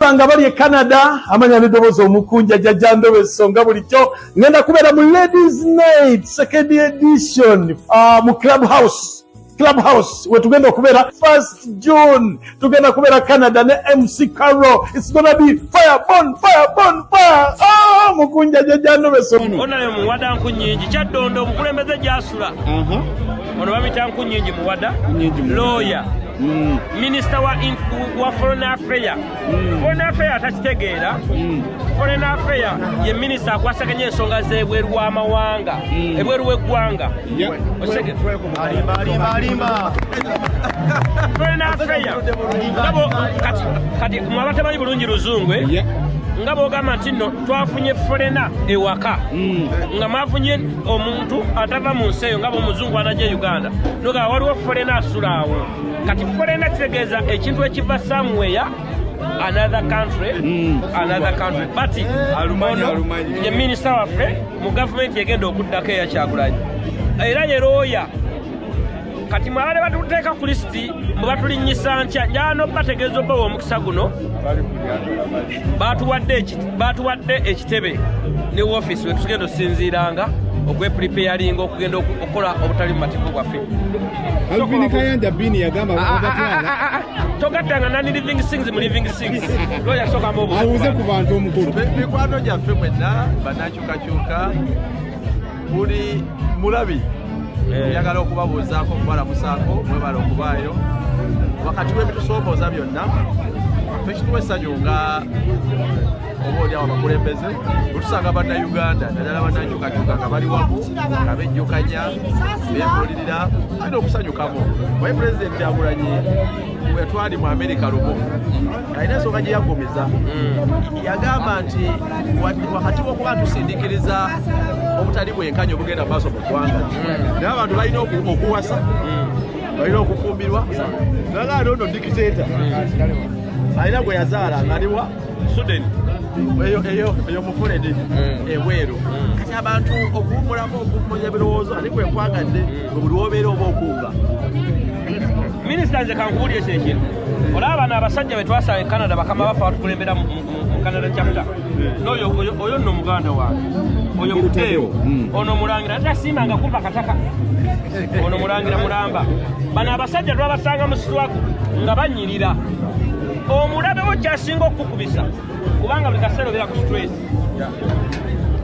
nga bali e canada amanya nedobozi omukunja jaja ndobeso nga bulijjo ngenda kubeera mu ladies night second edition uh, mu club house club house wetugenda okubeera first june tugenda kubeera canada ne mc carro its gonna be fire bon fire bon fire ah, mukunja jaja ndobeso onalemuwadanku nyingi kyaddondo omukulembeze gyasula mhm. ono bamita nkunyingi muwada looya mm. minisita wa foreign affair mm. foreign affair atakitegeera mm. foreign affair ye minisita akwasaganya ensonga z'ebweru w'amawanga ebweru w'eggwanga foreign affair kati mwaba tamanyi bulungi luzungu eh? nga bwogamba nti nno twafunye forena ewaka nga mwafunye omuntu atava mu nsi eyo nga bwomuzungu anaja e uganda nogaa waliwo folena asulaawo kati folena kitegeeza ekintu ekiva samuweya another country mm. another country but ye minisita waffe mu gavumenti egenda okuddako eyakyagulanyi era yeroya kati mwabale batuteeka ku lisiti mubatulinnyisa ntya njano bategeeza obbawa omukisa guno batuwadde ekitebe ne wofiisi wetugenda osinziiranga okwepulipeyalinga okugenda okukola obutali mu mateeka bwaffe togaddanga nani living sings mu living sings loyasokamubuuze ku bantu omukulu mikwano gyaffe mwenna banakyukakyuka buli mulabi eh. njagala okubabuuzaako okubalamusaako mwebala okubaayo wakati w'ebitusoomooza byonna fekituwa essanyu nga oba olyawo abakulembeze otusanga bannayuganda naddala bannanyukakyuka nga bali wamu nga bejjukanya bebuulirira alina okusanyukamu waye pulezidenti agulanyi bwetwali mu amerika lumu alina ensonga gye yaggumiza hmm. yagamba nti wakati wokuba tusindikiriza obutali bwenkanya obugenda maaso mu ggwanga hmm. naye abantu balina okuwasa hmm. balina okufumbirwa naga ali ono dikiteta alina gwe yazaala ngaliwa suden eyo mufuledi ebweru kati abantu okuwumulamu okuwumuza ebirowoozo ani kwekwagadde buli wobeera oba okuuga minisita nze kankubulire kino ekintu olaba bano abasajja betwasala e canada bakama bafa batukulembera mu canada chapta noyo oyo nno muganda wange oyo muteewo hmm. ono mulangira tasimbanga kumpa kataka ono mulangira mulamba bano abasajja twabasanga mu sitwaku nga banyirira omulabewo kyasinga okukukubisa kubanga buli kaseera obeera ku stress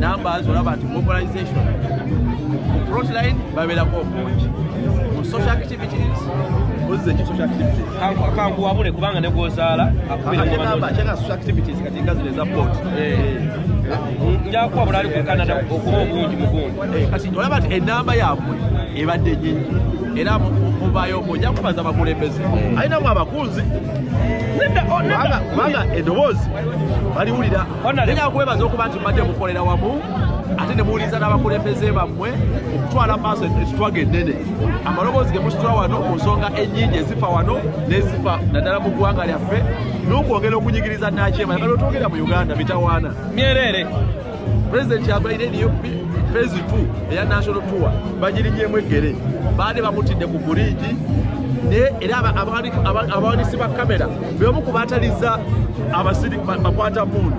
numbers olaba nti mobilization ku frontline babeerako obungi mu social activities ozze ki social activities kankuwabule kubanga ne gwozaala akubirkyenga social activities kati nga zino eza port eh. eh. njakuwa bulaali ku canada okuba obungi mugungi eh, kati olaba nti enamba yaabwe ebadde nyingi era mubayo ojja kubaza abakulembeze alinamu abakunzi oh, kubanga edoboozi baliwulira Nina kwebaza okuba nti mbadde mukolera wamu ate ne muwuliriza n'abakulembeze bammwe okutwala maaso ekitwaga ennene amaloboozi ge musitula wano ku nsonga ennyingi ezifa wano n'ezifa naddala mu ggwanga lyaffe n'okwongera okunyigiriza nakyema yagala otwogera mu uganda mitawaana myereere pulezidenti yagwaire eriyo fezi t eya national tour bagirinyemu eggere baali bamutidde ku buriigi naye era abawanisi ba kamera beomu ku bataliza abasiri bakwata mundu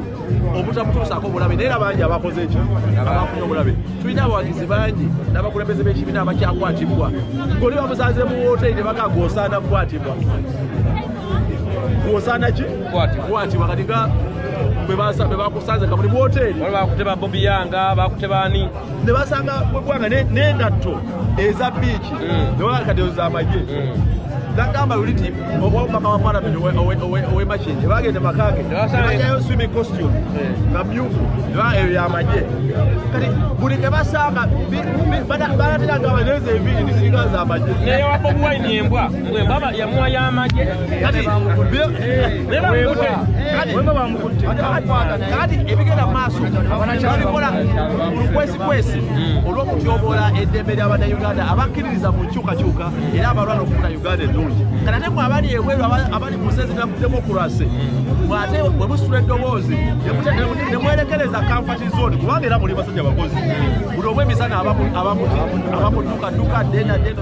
obutamutuusaako obulabe naye era bangi abakoze ekyo abafunye obulabe tulina abawagizi bangi n'abakulembeze b'ekibiina abakyakwatibwa goli bamusanze mu woteeri ne baka gwosaana kukwatibwa gwosaana ki kwatibwa kati nga bwe bakusanze nga muli mu woteeri bakute ba bobiyanga bakute baani ne basanga gwanga n'engatto eza biiki mm. ne baba kati z'amagye mm. nagamba luli ti omukama wa palamenti owemakinje bagende makage nebajayo swimi costume eh. nga myufu eyo yamagye kati buli kebasanga balatiragamba nezo enviri nisiringa zamagye naye wabobuwaini embwa yamuwa yamagye kati kati ebigenda maaso babikola olukwesikwesi hmm. olw'okutyoboola eddembe ly'abannayuganda abakkiririza mu nkyukakyuka era abalwana okufuna uganda ennungi kati ate mwe abali ebweru abali mu nsezi naku demokurasi mwate hmm. bwe musitula eddoboozi ne mwerekereza kamfati zoni kubanga era muli basajja bakozi buli obw'emisana abamutukaduka dena dena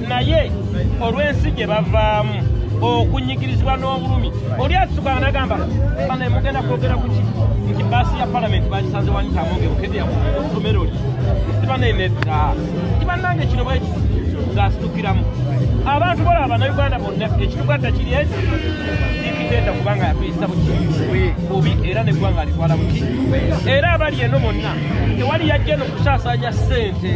naye olw'ensi gye bavaamu okunyigirizibwa n'obulumi oli asukana nagamba bana mugenda kwogera kuki nti baasi ya palamenti bagisanze wanitamongeokedyaotomero li tibanenedda tibannange kino bweki ng'asitukiramu abantu bola abanauganda bonna ekituganda kiri eki ikitenda kubanga yatuyisa buki bubi era neggwanga alitwala buki era abali eno bonna tewali yajja eno kusaasanya ssente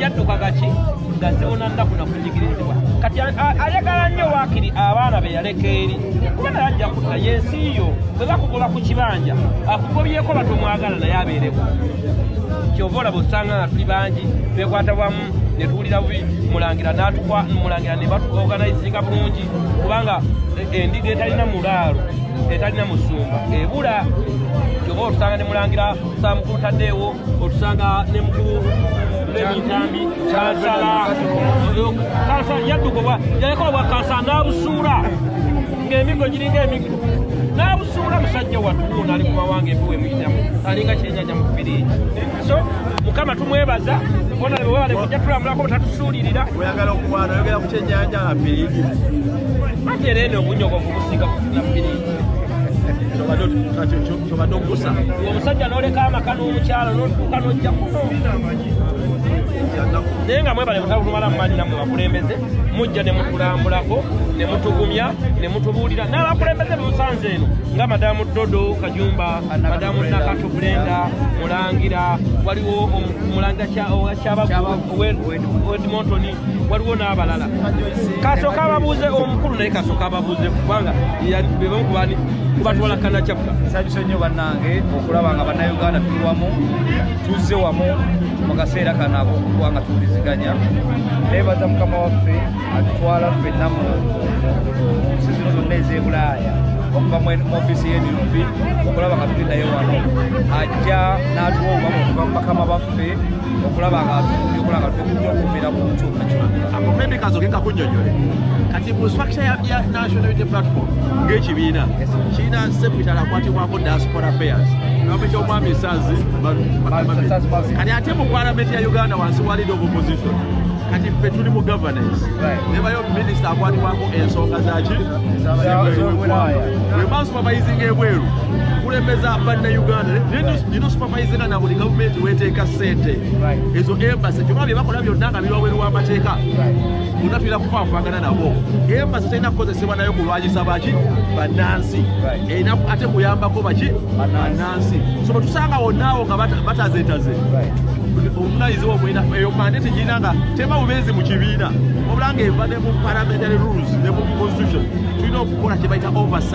yadduka gaki nga ziwona nnaku nakunyigirizibwa kati ayagala nnyo waakiri abaana be yaleka eri kuba naye ajja kutta yensi yo bwe bakugoba ku kibanja akugobyeko batomwagala naye abeereko kyova olaba osanga nga tuli bangi twekwata wamu ne tuwulira bubi mulangira natukwa mulangira ne batuorganizinga bulungi kubanga eh, endiga etalina mulaalo etalina musumba ebula kyova otusanga ne mulangira samukulu taddeewo otusanga ne mukulu lebitambi kansala kansala yadduka obwa yaleka obwa kansala n'abusuula ng'emiggo giringa emiggo n'abusuula musajja watuwo naali mu mawanga ebiwe muyitamu alinga kyenyaja mu firiigi so mukama tumwebaza bona webale kujja tulamulako butatusuulirira oyagala okwana oyogera ku kyennyanja nga firiigi ate era eno obunyogovu businga kufuna firiigi kyobadde okusa omusajja noleka amaka n'omukyala notuuka nojja kuno naye nga mwebale butalumala mumanyi namwe bakulembeze mujja ne mutulambulako ne mutugumya ne mutubuulira n'abakulembeze bemusanze eno nga madamu dodo kajumba madamu nakatu bulenda mulangira waliwo mulangira kyabagu wedmontoni waliwo n'abalala kasooka ababuuze omukulu naye kasooka ababuuze kubanga bebamu kubani kubatwala kanakyapula nsabisa nnyo bannange okulaba nga bannayuganda tuli wamu tuzze wamu mu kaseera kano akokuba nga tuwuliziganya naye baza mukama waffe atutwala ffenna mu nsi zino zonna ez'ebulaaya okuva mu ofiisi y'enup okulaba nga tulindayo wano ajja n'atuwa obubamu okuva mu bakama baffe okulaba nga tukola nga tukuja okubeera ku nkyukakyuka akomendi kazo ke kakunyonyole kati mu structure ya, ya national unity platform ng'ekibiina kirina sepitala akwatibwako diaspora affairs nome ky'omwami esazi kati ate mu palamenti ya uganda wansi wa lead of opposition kati ffe tuli mu governance nebayo minisita akwatibwako ensonga zaki wemasupabayizinga ebweru kulembeza banna uganda Maizina na buli government weteka sente ezo embassy kyoka bye bakola byonna nga biri wabweru w'amateeka bonna tulina kufaafagana nabo embassy terina kukozesebwa nayo kulwanyisa baki bannansi erina ate kuyambako baki bannansi so bwe tusanga wonnaawo nga batazetaze omunayiziwa omwena eyo mande tegirina nga tema bubeezi mu kibiina wabula nga eva ne mu parliamentary rules ne mu constitution tulina okukola kye bayita oversight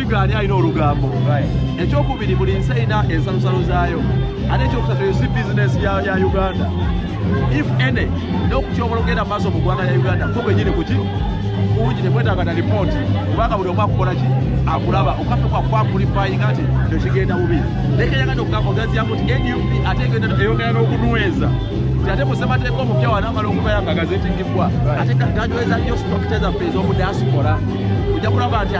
Ani alina olugambo ekyokubiri buli nsi erina ensalosalo zaayo ate ekyokusatu yosi bizinesi ya uganda if any nokukyobola okugenda maaso mu ggwanga lya uganda ko kwenyini kuki kungi tekwetaaga na lipooti kubanga buli omu akukola ki akulaba okafe kwakwakulifayinga nti kyokigenda bubi nekeyagana okugamba ogaziyamu nti nup ate eyongera n'okunweza ate musemateeka omupya wanamala okubayangagaza ekigibbwa ate gajweza nyo sitokite zaffe ez'omu diaspora ojja kulaba nti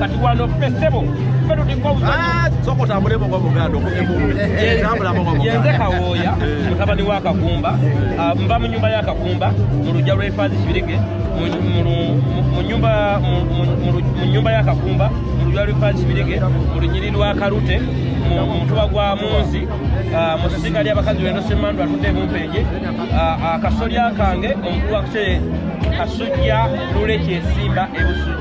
kati wano ffe ssebo ffe tuliko ah, soka otambulemu nga buganda okumyemuyenze eh, kawooya eh. mutabani wa kakumba ah, nva mu nyumba ya kakumba mu lujja lw'efaazi kibirige mu nyumba ya kakumba mu lujja lw'efaazi kibirige mu lunyiri lwa kalute mutuba gwa munzi ah, mu sisiga ly'abakazi wendo semandu atudde emumpeje akasolya kange omukulu wakuse kasujja lule kyesimba ebusu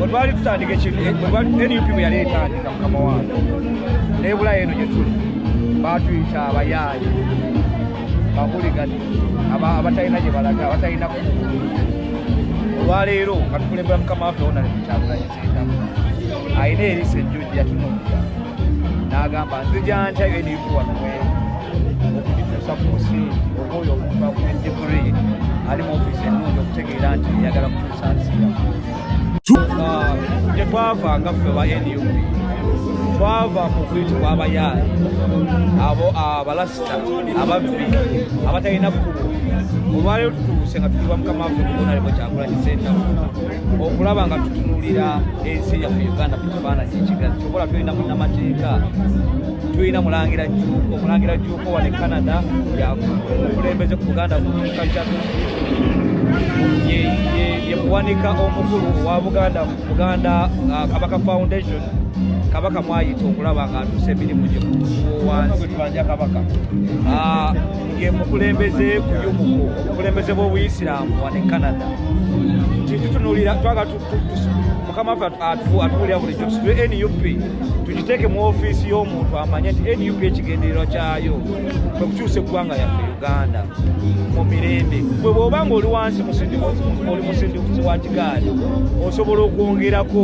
wetwali tutandika ekintunup bweyali etandika mukama wange nebulayo eno gyetuli batuyita abayaaye bakuligani abatalina gyebalaga abatalina olwaleero katukulembera mukama waffe wona netukyabulayo alina eriso ejjujja tunulira n'agamba nzija ntya eriku wano mweri okugituusa ku musingi oba oyo omuntu akuma digiri ali mu ofiisi ennungi okutegeera nti eyagala kutuusa nsi yaffe gye twava nga ffe ba nup twava mu kuyitibwa abayaayi abo abalasita ababbi abatalina kkubo olwaleero tutuuse nga tukiwa mukama waffe kubonalemwe kyakulanyisa ennaku okulaba nga tutunulira ensi yaffe uganda ku kifaananyi ekigazi kyobola tulina munamateeka tulina mulangira juuko mulangira juuko wane canada yakulembeze ku buganda yemuwanika omukulu wa buganda buganda uh, kabaka foundation kabaka mwayita okulaba nga atusa emirimu gyewansi ah, ye mukulembeze kuyumuku obukulembeze bw'obuyisiraamu wane canada titutunulira twaga mukama waffe atuwulira bulijjo tusitule nup tugiteeke mu ofiisi y'omuntu amanye nti nup ekigendererwa kyayo kwe kukyusa eggwanga yaffe uganda mu mirembe gwe bw'oba nga oli wansi oli musindiuzi wa kigaali osobola okwongerako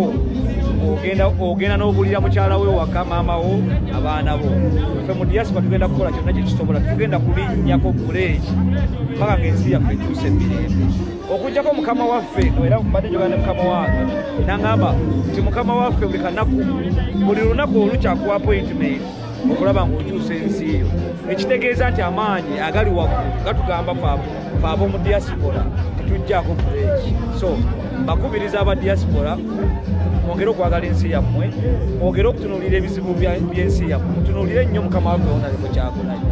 ogenda n'obulira mukyala we waka maama wo abaana bo fe mu diaspora tugenda kukola kyonna kyekisobola tugenda kulinnyako buleeki mpaka ng'ensi yaffe etuuse emirembe okujjako mukama waffe era mbadde njogana ne mukama wange naŋamba nti mukama waffe buli kanaku buli lunaku olukyakuwa appointment okulaba ng'okyusa ensi eyo ekitegeeza nti amaanyi agali waggulu gatugamba faamu fe ab'omu diaspora tetujjaako kuleeki so bakubiriza aba diaspora mwongere okwagala ensi yammwe mwogere okutunuulira ebizibu by'ensi yammwe mutunuulire nnyo mukama waffe wonaleko kyakolayo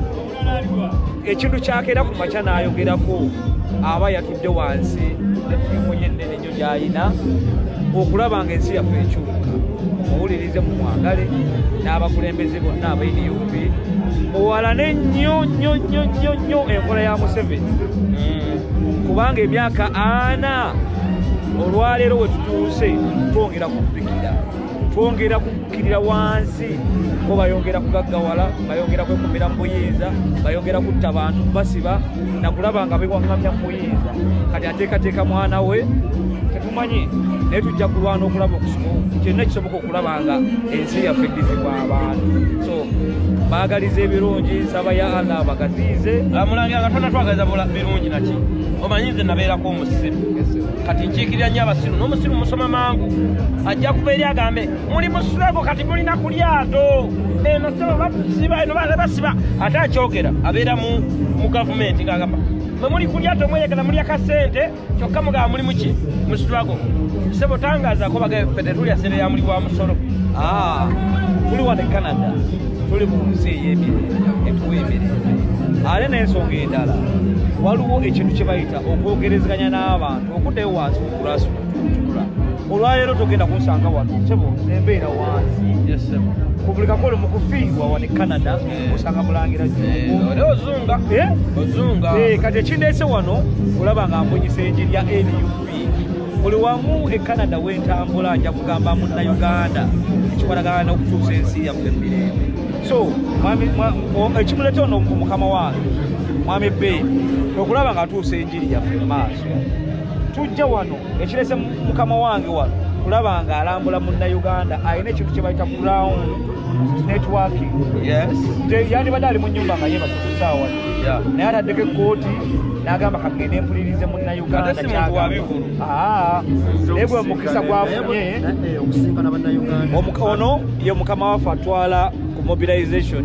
ekintu kyakeera ku makya n'ayogerako aba yatudde wansi gyalina okulaba nga ensi yaffe ekyuka muwulirize mu mwagale n'abakulembeze bonna abanup muwalane nnyo nnyo nnyo nnyo nnyo enkola ya museveni mm. kubanga emyaka ana olwaleero wetutuuse twongera kupikira twongera kukkirira wansi bo bayongera kugaggawala bayongera kwekumira mu buyinza bayongera kutta bantu basiba nakulaba nga bewaŋŋamya mu buyinza kati ateekateeka mwana we tetumanyi naye tujja kulwana okulaba kyonna kisoboka okulaba nga ensi yaffe eddizibwa abantu so baagaliza ebirungi nsaba ya allah abagaziize amulangira nga tona twagaliza birungi naki omanyi nze nabeerako omusiru kati nkiikirira nnyo abasiru n'omusiru musoma mangu ajja kuva eri agambe muli musulago kati mulina ku lyato eno sebo basiba eno basiba ate akyogera abeera mu gavumenti ngaagamba mwe muli ku lyato mweyagala mulya kasente kyokka mugamba mulimu ki musulago sebo tangazako bagae fe tetulya sente ya muli wa musolo ah, tuli wane canada tuli mu nsi ey'emirembe etuwa emirembe ate n'ensonga endala waliwo ekintu kye bayita okwogerezeganya n'abantu okuddayo wansi okulasulula olwaleero togenda kunsanga wano sebo nembeera wansi ku buli kakole mu kufiirwa wano e canada eh. osanga mulangira ozunga eh, eh? eh kati ekindeese wano olaba nga mbunyisa enjiri ya nup buli wamu e canada wentambula nja kugamba munna uganda ekikwatagana n'okutuusa ensi yaffe emirembe so ekimuleeta ono mukama wange mwami be okulaba nga tuusa enjiri yaffe mu maaso tujja wano ekirese mukama wange wano kulaba nga alambula munnauganda alina ekintu kye bayita ground networking yandibadde ali mu nyumba nga yebasa kusaawa naye ataddeko ekkooti n'agamba kagende mpulirize munnauganda naye ah, gwe mukisa gwafunye ono ye mukama waffe atwala ku mobilization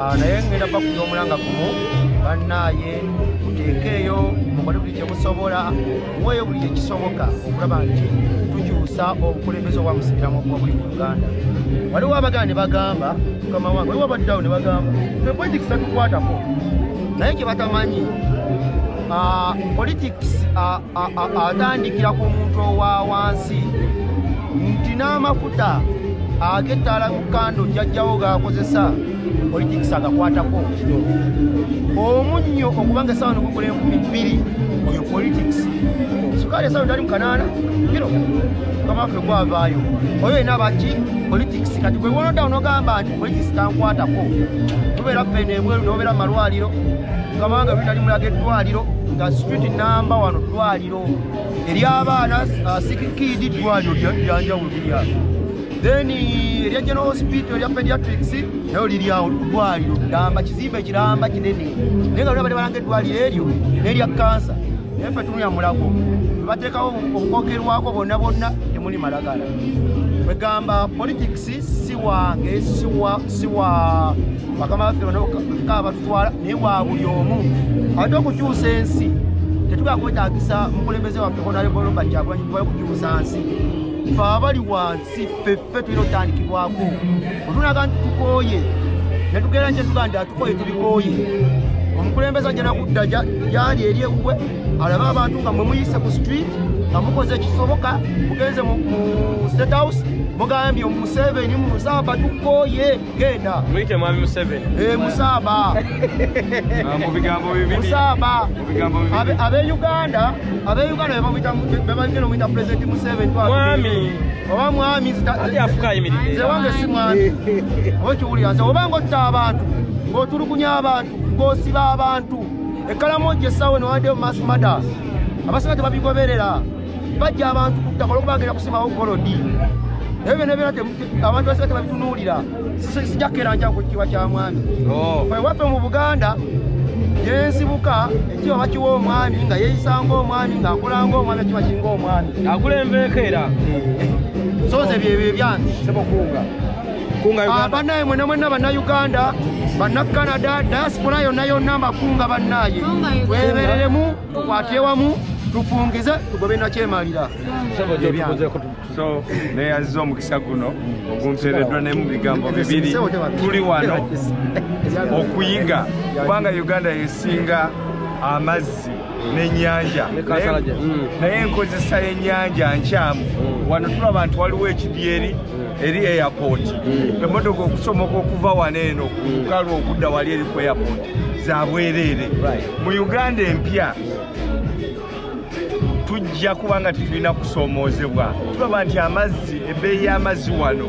Ah, naye ngenda bakuza omulanga gumu bannaaye muteekeeyo mukole buli kye musobola mweyo buli kyekisoboka okulaba nti tukyusa obukulembeze obwa musibiramu obwobuli mu uganda waliwo abagala ne bagamba mukama wange waliwo abaddawo ne bagamba epolitics tatukwatako naye kye batamanyi ah, politics ah, atandikira ku muntu owa wansi nti n'amafuta agettaala mu kando jajjawo gaakozesa politikisi agakwatako omunnyo okuba nga esawa nogugula enkumi bbiri oyo politics sukaali esawa tali mukanaana kino mukama waffe gwavaayo oyo yena abaki politics kati gwe wonodawo nogamba nti bwekizitankwatako tubeera ffena ebweru nobeera mu malwaliro kamanga lwinali mulaga eddwaliro nga street namba wano ddwaliro eryabaana uh, sikikidi ddwaliro lyanjawulo lirya then erya general hospital erya pediatrics nayo liryawo ddwaliro gamba kizimba ekiramba kinene naye nga lwabade balanga eddwaliro eryo nerya kansa naye fe tunulya mulago webateekawo okukokerwako bonna bonna temuli malagala kwegamba politics si wange si wa bakama baffe banoka abatutwala naye wa buli omu ate okukyusa ensi tetugala kwetagisa mukulembeze waffe honaleboloba kyagulanyi kubala okukyusa nsi fe abali wansi ffeffe tulina otandikibwako otunaga nti tukooye netugera nkyetuganda tukooye tubikooye omukulembeze ajja nakudda gyali eri ewuwe alabe abantu nga mwemuyise ku street nga mukoze ekisoboka mugenze mu state house mugambye omuseveni musaba tukoye genda muyite mwami museveni e eh, musaba ah, mubigambo bibiri musaba mubigambo bibiri abe uganda abe uganda bebamuyita bebamuyita omuyita president museveni mwami oba mwami ati afuka ayimiridde nze wange si mwami okiwulira nze oba nga otta abantu ng'otulugunya abantu ng'osiba abantu ekkalamu ogyessawo newadeyo mass matters abasinga tebabigoberera bajja abantu kuttaka olwokuba agenda kusimawo golodi ebyo byona byona abantu basinga tebabitunuulira sijakkeranja ku kitiibwa kya mwami oh. ewaffe mu buganda yensibuka ekiba bakiwa omwami nga yeyisanga omwami ngaakolanga omwami ekiba kinga omwami akulembeeko era eh. soze byebyo ebyange sebokuuga Ah, banaye mwena mwena banauganda banacanada diaspora yona yona makunga banaye webereremu kwatyewamu tufungize tugobe nakyemalira neyaziza omukisa guno ogumpereddwa ne mu bigambo bibiri tuli wano okuyiga kubanga uganda yesinga amazzi n'ennyanja naye enkozesa hmm. y'ennyanja nkyamu hmm. wano tulaba nti waliwo ekidyeri hmm. eri airport emmotoka okusomoka okuva wano eno kukalwa okudda wali eri ku airport za bwereere mu uganda empya tujja kubanga tetulina kusoomoozebwa tulaba nti amazzi ebbeeyi y'amazzi wano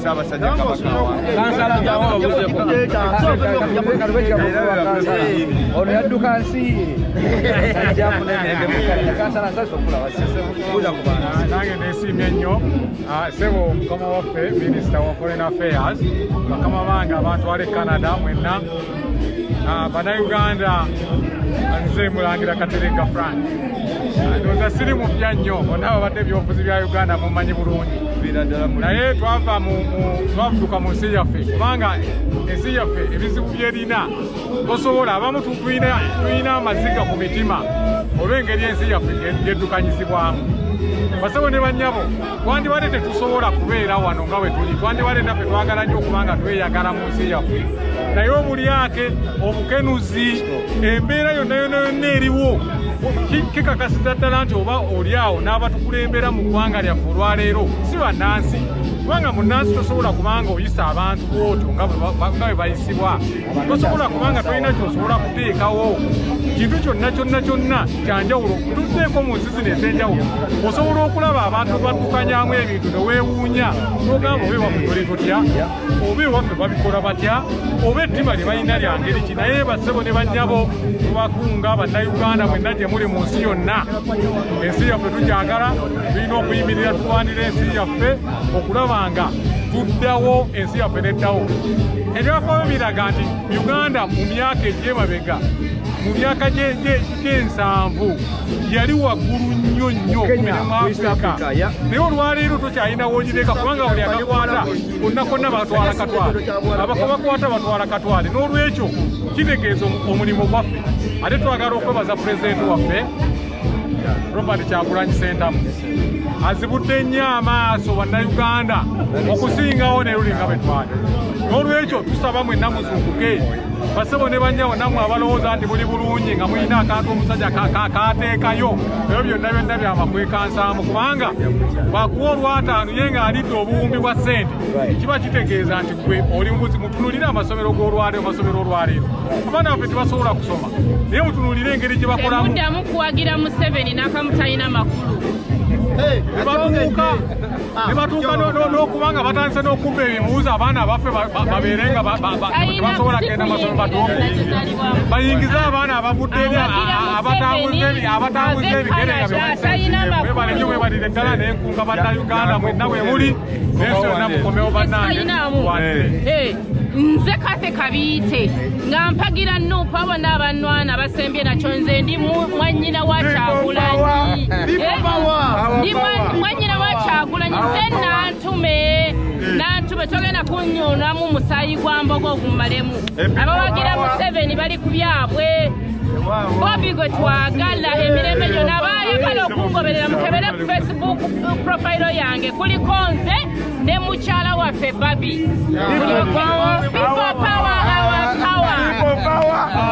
Ssaabasajja Kabaka ono yadduka nsi nange nesiimye nnyo ah, sebo mukama waffe minisita wa foreign affairs bakama bange abantwala e canada mwenna banauganda ah, nze mulangira katereka frank ndoza siri mupya nnyo bona babadde ebyobufuzi bya uganda mumanyi bulungi naye twava twavuduka mu nsi yaffe kubanga ensi yaffe ebizibu byerina tosobola abamu tulina amaziga ku mitima olw'engeri ensi yaffe geddukanyizibwamu basebo ne banyabo twandibadde tetusobola kubeera wano nga wetuli twandibadde naffe twagala nnyo okubanga tweyagala mu nsi yaffe naye obulyake obukenuzi embeera yonna yona yonna eriwo kikakasita ddala nti oba oli awo n'abatukulembera mu ggwanga lyaffe olwaleero si bannansi kubanga munnansi tosobola kubanga oyisa abantu bwotyo nga bwe bayisibwa tosobola kubanga tolina kyosobola kuteekawo kintu kyonna kyonna kyonna kyanjawulo tuteeko mu nsi zino ez'enjawulo osobola okulaba abantu baddukanyamu ebintu neweewuunya nogamba oba ewaffe tole totya oba ewaffe babikola batya oba ettima lye balina lya ngeri ki naye bassebo ne bannyabo tubakunga bannayuganda mwenna gye muli mu nsi yonna ensi yaffe tukyagala tulina okuyimirira tulwanira ensi yaffe okulaba nga tuddawo ensi yaffe neddawo ebyafaayo biraga nti uganda mu myaka egyemabega mu myaka gyensanvu yali waggulu nnyo nnyo mu afrika naye olwaleero tokyalina wonyireka kubanga buli akakwata konna konna batwala katwale abakobakwata batwala katwale n'olwekyo kitegeeza omulimu gwaffe ate twagala okwebaza pulezidenti waffe robert kyagulanyi sentamu azibudde nnyo amaaso bannayuganda okusingawo ne luli nga betwali n'olwekyo tusaba mwenna muzuukuke basebo ne bannyawo nammwe abalowooza nti muli bulungi nga mulina akantu omusajja kateekayo ebyo byonna byonna byamakwekansaamu kubanga bwakuwa olwataano ye ng'alidde obuwumbi bwa ssente kiba kitegeeza nti gwe oli mubuzi mutunulire amasomero g'olwaleero amasomero olwaleero abaana baffe tebasobola kusoma naye mutunulire engeri gye bakolamu temuddamu kuwagira museveni nakamu talina makulu nebatuuka nokubanga batandise nokubba ebibuuzo abaana abaffe babeere nga tebasobola kugenda masomo batuuku bayingize abaana abavudde eri abatambuza ebigere nga bebalenyo webalire eddala nenkunga banna uganda mwenna wemuli nensi yonna mukomewo bannange nze kathe kabiite nga mpagira nuupu abo n'abanwana basembye nakyo nze ndi mwanyina wa kyagulanyi eh, ndi mwanyina wa kyagulanyi nze nantume nantume togenda kunyunamu musaayi gwa mboga ogumalemu abawagira museveni bali ku byabwe bobi gwe twagala emirembe gyona bayagala okungoberera mukebere ku facebook profilo yange kuliko nze ne mukyala waffe babi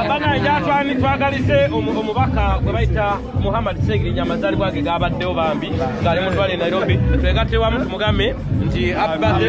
banaeatwani twagalize omubaka gwe bayita muhammad segirinya amazalibwa ge gabaddewo bambi ngaali mutwale nairobi twegatewamu tumugambe nti abade